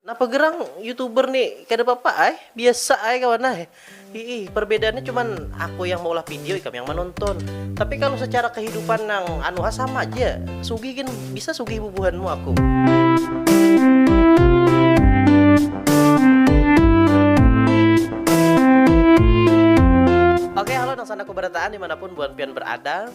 Napa gerang youtuber ni kada papa ai, biasa ai kawan ai. Hiih, perbedaannya cuman aku yang maulah video ikam yang manonton. Tapi kalu secara kehidupan nang anu ha sama ja, sugih gin bisa sugih bubuhanmu aku. Oke halo nang sandaku barataan dimanapun buhan pian berada.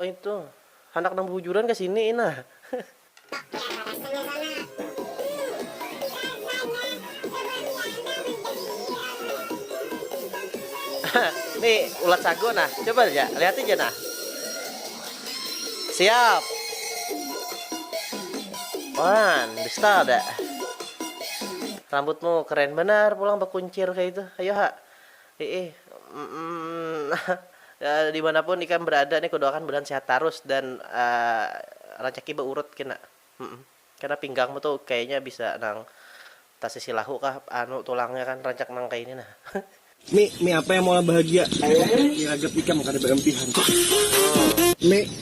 Oh itu, handak nang bahujuran ka sini ina. Nih ulat sagu nah, coba aja, lihat aja nah. Siap. Wan, bisa ada. Rambutmu keren benar pulang bakuncir kayak itu. Ayo ha. Hiih, mm-mm-mm-nah, dimanapun ikam berada nih kudoakan budahan sehat tarus dan racaki baurut kena, mm-mm, kena pinggangmu tuh kayanya bisa nang tasisi lahu kah anu tulangnya kan rancak nang kaya ini nah. Mi, mi apa yang maulah bahagia? Mi, mi ragap ikam kada baimpihan. Mi.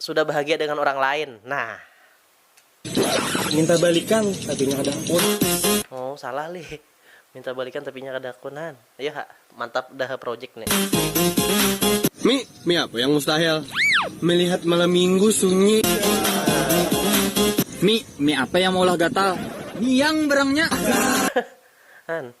sudah bahagia dengan urang lain nah. Minta balikan tapi nya kada hakun. Oh salah lih minta balikan tapi nya kada hakun han iyo ha mantap dah project ni. Mi, mi apa yang mustahil? Melihat malam minggu sunyi. Mi, mi apa yang maulah gatal? Mi yang barangnya. Han.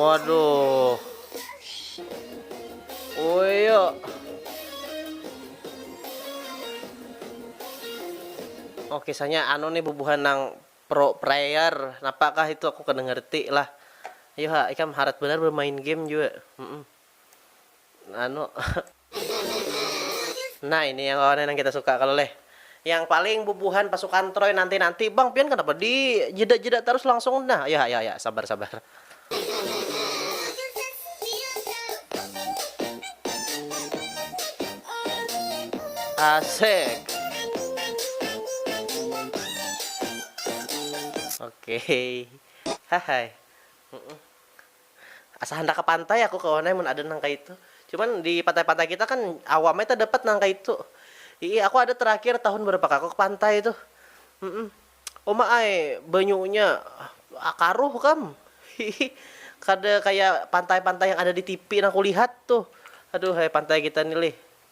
Waduh. Oh iya. Oh kisahnya anu nih bubuhan nang pro player. Napakah itu aku kada ngerti lah. Ayo ha, ikam harat benar bermain game juga. Mm -mm. anu nah ini yang kawan yang kita suka kalau leh yang paling bubuhan pasukan troy nanti nanti bang pian kenapa di jeda jeda terus langsung nah ya ya ya sabar sabar asik oke okay. hai Asa handak ka pantai aku kawan ai mun ada nang kaitu. Cuman di pantai-pantai kita kan awam ai tadapat nang kaitu. Hiih aku ada terakhir tahun berapa kah aku ke pantai tuh. Uma ai banyunya karuh kam. Hiih kada kaya pantai-pantai yang ada di tipi nang kulihat tuh. Aduhai pantai kita ni lih.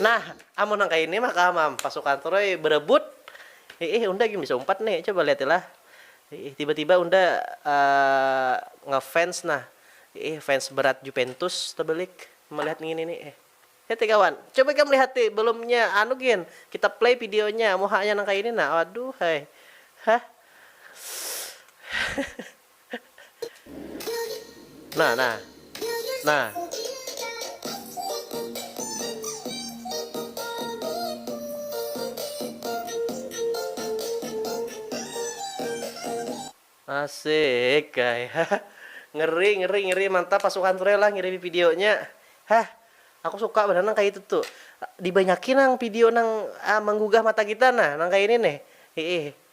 Nah, amun nang kaya ini mah kawa mam, pasukan Troy berebut, hiih unda gin bisa umpat nih, coba lihat ilah, hiih tiba-tiba unda ngefans nah, hiih fans berat Jupentus tebelik melihat ngini nih eh. Heti kawan, coba ikam lihati belumnya anu gin, kita play videonya, muhanya nang kaya ini nah, aduhai, hah. Nah, nah. Nah. Asik, guys. ngeri, ngeri, ngeri. Mantap pasukan Frela ngirimi videonya. Hah, aku suka benar nang kayak itu tuh. Dibanyakin nang video nang ah, menggugah mata kita nah, nang kayak ini nih. Hiih.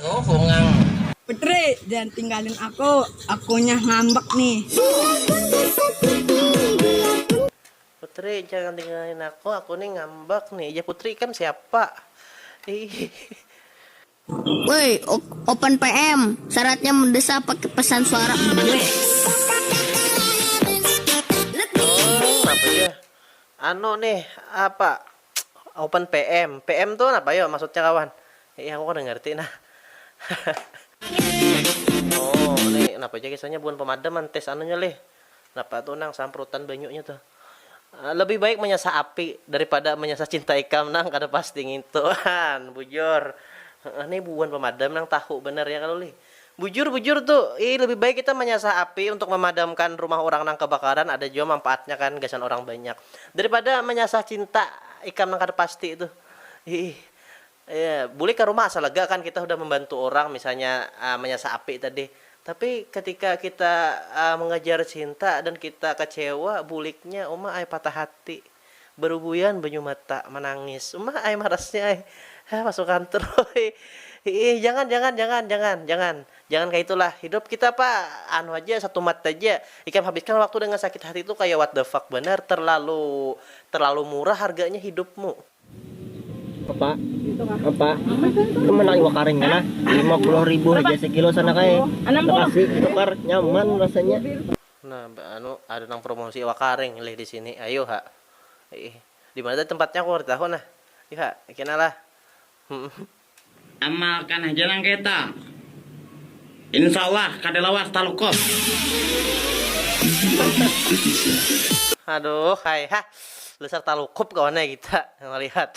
Tuh bungang. Putri, jangan tinggalin aku, akunya ngambek nih. Putri, jangan tinggalin aku, aku nih ngambek nih. Ya Putri ikam siapa? Woi, open PM, syaratnya mendesak pakai pesan suara. Anu nih, apa? Open PM, PM tu napa yo maksudnya kawan? Ih aku kada ngerti nah. Oh, ni napa ja kisahnya bukan pemadam an tes anunya lih. Napa tu nang samprutan banyunya tu. Ah, lebih baik menyasah api daripada menyasah cinta ikam nang kada pasti ngintu an, bujur. Heeh, ni buan pemadam nang tahu banar ya kalu lih. Bujur bujur tu, ii lebih baik kita manyasah api untuk mamadamkan rumah urang nang kabakaran ada jua mampaatnya kan gasan urang banyak daripada manyasah cinta ikam nang kada pasti tu iih iya bulik ka rumah asa lega kan kita hudah mambantu urang misalnya manyasah api tadi tapi ketika kita mangajar cinta dan kita kacewa buliknya uma ai patah hati. Barubuian banyu mata, manangis. Uma ai marasnya ai. Hah masuk kantor ai. Hiih jangan jangan jangan jangan jangan. Jangan kaya itu lah. Hidup kita apa anu haja, satumat haja. Ikam habiskan waktu dengan sakit hati itu kaya what the fuck banar. Terlalu terlalu murah harganya hidupmu. Apa? Apa? Ikam handak iwak karing kah nah? Lima puluh ribu haja sekilo sana kaya. Makasih, tukar. Nyaman rasanya. Nah anu ada nang promosi iwak karing lih disini ayu ha iih dimana tadi tempatnya aku kada tahu nah ih ha kena lah humm. Amalkan haja nang kayata. Insya Allah kada lawas talukop. Aduh hai ha dasar talukop kawan ai kita malihat.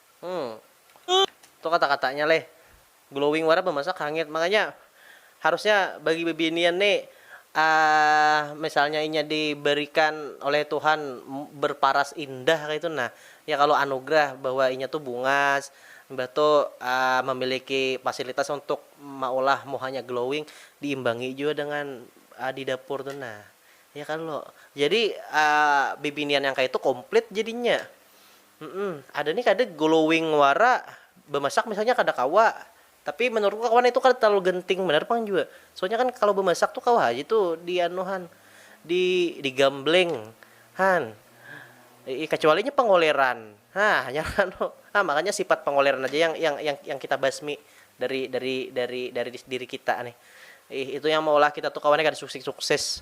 Hmm. Itu kata-katanya leh. Glowing wara bamasak hangit. Makanya harusnya bagi bibinian ni uh, misalnya inya diberikan oleh Tuhan berparas indah kayak itu nah ya kalau anugerah bahwa inya tuh bungas mbah tuh uh, memiliki fasilitas untuk maulah muhanya glowing diimbangi juga dengan uh, di dapur tuh nah ya kalau jadi uh, bibinian yang kayak itu komplit jadinya Humm ada nih kada glowing wara bemasak misalnya kada kawa tapi menurutku kawan itu kada terlalu genting banar pang jua soalnya kan kalo bemasak tu kawa haja tu di anu han di di gambleng han iih kacuali nya pengoleran hah hanyar anu ha makanya sifat pengoleran haja yang yang yang yang kita basmi dari dari dari dari diri kita nih iih itu yang maulah kita tu kawan kada suksik sukses.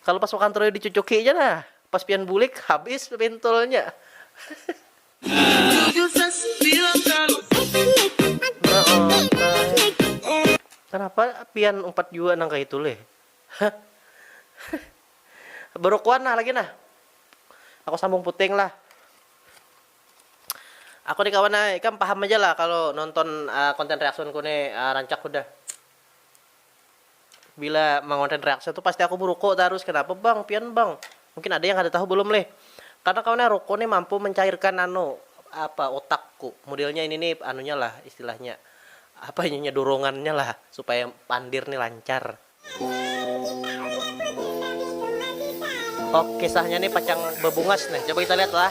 Kalo pas makan troyo dicucuki ja nah, pas pian bulik habis pintulnya. Kenapa pian umpat jua nang kaitu leh. Berukuan nah lagi nah. Aku sambung puting lah. Aku ni kawan ai, ikam paham aja lah kalo nonton konten reaction ku ni rancak hudah. bila mangonten reaction tu pasti aku beruko tarus kenapa bang pian bang mungkin ada yang kada tahu belum leh karena kawan nya ruko nih mampu mencairkan anu apa otak ku modelnya ini nih anunya lah istilahnya apa ini nya dorongan nya lah supaya pandir nih lancar. Oke kisahnya nih pacang bebungas nih coba kita lihat lah.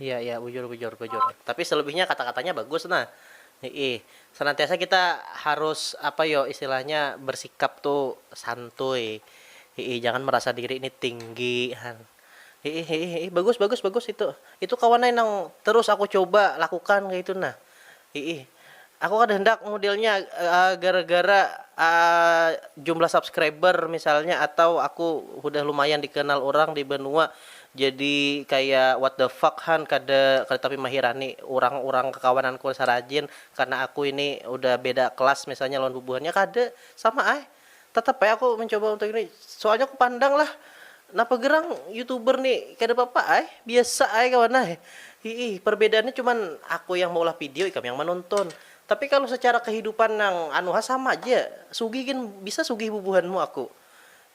Iya iya bujur bujur bujur tapi selebihnya kata katanya bagus nah iih senantiasa kita harus apa yo istilahnya bersikap tu santuy iih jangan merasa diri ni tinggi han iih iih iih bagus bagus bagus itu itu kawan ai nang terus aku coba lakukan kaitu nah Hiih. Aku kada handak modelnya gara-gara jumlah subscriber misalnya atau aku hudah lumayan dikenal urang di banua jadi kaya what the fuck han kada kada tapi mahirani urang-urang kakawananku sarajin karna aku ini udah beda kelas misalnya lawan bubuhannya kada sama ai Tetap ai aku mencoba untuk ini soalnya aku pandang lah napa gerang youtuber ni kada papa ai biasa ai kawan ai hihi perbedaannya cuman aku yang maulah video ikam yang manonton tapi kalu secara kehidupan nang anu ha sama ja sugih gin bisa sugih bubuhanmu aku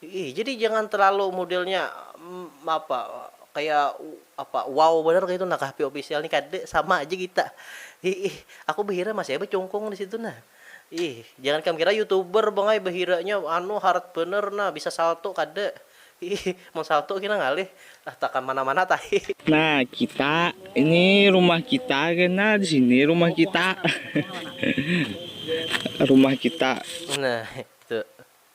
hihi jadi jangan terlalu modelnya apa kaya apa wow banar kaitu nah kah pop official ni kada sama ja kita hihi aku behira masih ai becungkung disitu nah. Ih, jangan kam kira youtuber bang ai bahiranya anu hard banar nah, bisa salto kada. Ih, mun salto kina ngalih ah takam mana-mana tahi. Nah kita, ini rumah kita kena di sini rumah kita. Rumah kita. Nah, tu.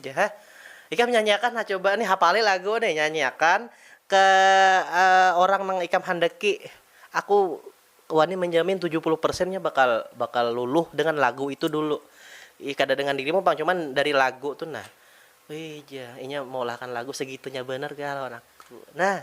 Jah. Ikam nyanyiakan ha coba nih, hapali lagu nih, nyanyiakan ke orang nang ikam handaki. Aku wani menjamin tujuh puluh persen nya bakal bakal luluh dengan lagu itu dulu. Ih kada dengan dirimu pang, cuman dari lagu tu nah. Wih jah, inya meulahkan lagu segitunya banar kah lawan aku. Nah.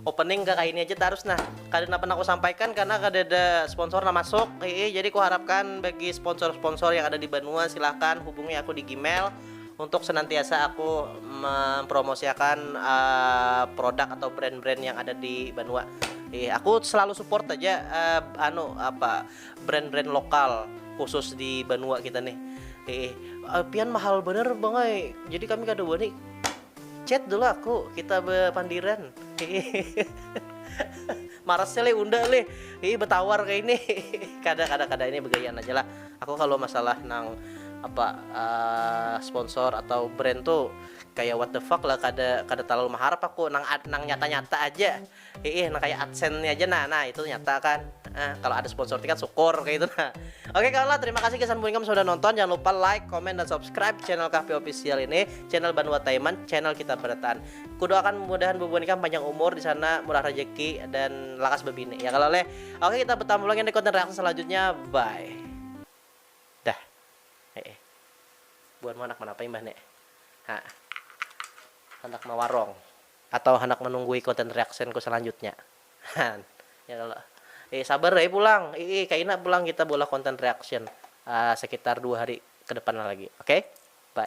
Opening ka kaini aja tarus nah. Kada napa nang kusampaikan karena kadada sponsor nang masuk, hiih jadi kuharapkan bagi sponsor-sponsor yang ada di banua silahkan hubungi aku di gmail untuk senantiasa aku mempromosiakan produk atau brand-brand yang ada di banua. Hiih aku selalu support aja anu apa brand-brand lokal khusus di banua kita nih. Hiih pian mahal banar bang ai jadi kami kada wani. Chat dulu aku, kita bepandiran. Marasnya le unda le, ini betawar kayak ini. kada kada kada ini begayaan aja lah. Aku kalau masalah nang apa uh, sponsor atau brand tuh kayak what the fuck lah kada kada terlalu mengharap aku nang nang nyata nyata aja Hiih nah kaya adsense nya ja nah nah itu nyata kan ah kalo ada sponsor tiket sukur kaya itu nah oke kawan lah terima kasih gasan puingam sudah nonton jangan lupa like comment dan subscribe channel kahpi official ini channel banua taiman channel kita berataan kudoakan mudahan bubuhan ikam panjang umur disana murah rejeki dan lakas bebini ya kalo leh oke kita betamu lagi di konten reaksi selanjutnya bye dah heeh buhanmu handak manapai mbah ne ha handak mawarong. Atau handak manunggui content reaction ku salanjutnya? Haan. Ya kalo. Iih sabar ai pulang. Iih kaina pulang kita beulah content reaction sekitar dua hari kedepan lagi. Oke. Bye.